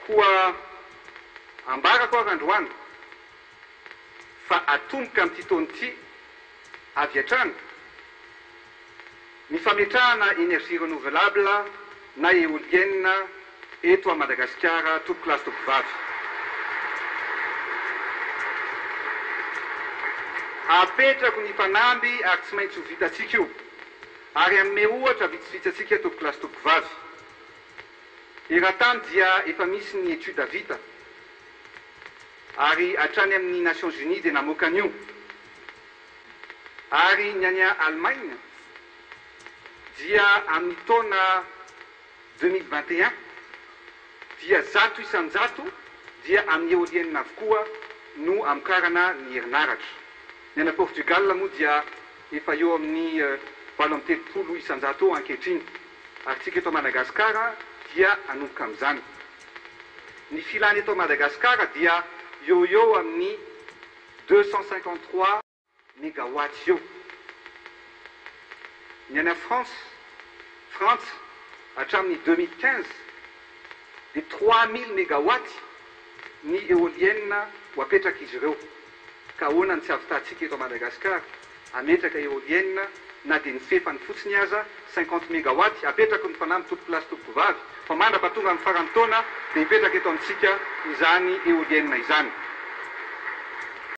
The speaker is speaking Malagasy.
Koa ambarako ary androany fa atomboka amin'ity taona ity avy hatrany ny fametrahana énergie renouvelable na éolienne eto à Madagasikara tompokolahy sy tompovavy. Apetrako ny mpanamby ary tsy maintsy ho vitantsika io. Ary hanome ohatra vitsivitsy antsika tompokolahy sy tompovavy. Eran-tany dia efa misy ny étude vita, ary hatrany amin'ny Nations Unies dia namoaka an'io. Ary ny any Allemagne dia amin'ny taona deux mille vingt et un dia zato isan-jato dia amin'ny éolienne avokoa no amokarana ny herinaratra. Ny any Portugal moa dia. Efa eo amin'ny valo amby telopolo isan-jato eo ankehitriny, ary tsika eto Madagasikara dia hanomboka amin'izany. Ny filany eto Madagasikara dia eo ho eo amin'ny deux cent cinquante trois megawatts eo. Ny any France, Frantsa, hatramin'ny deux mille quinze dia trois mille megawatts ny eolienina ho apetrak'izy ireo. Ka ahoana ny tsy havitantsika eto Madagascar ametraka eolienne na dia ny fefany fotsiny aza cinquante megawatt apetrako ny fanamby tompoko lahy sy tompoko vavy fa mandrapa tonga ny faran'ny taona dia hipetraka eto amintsika izany eolienne izany.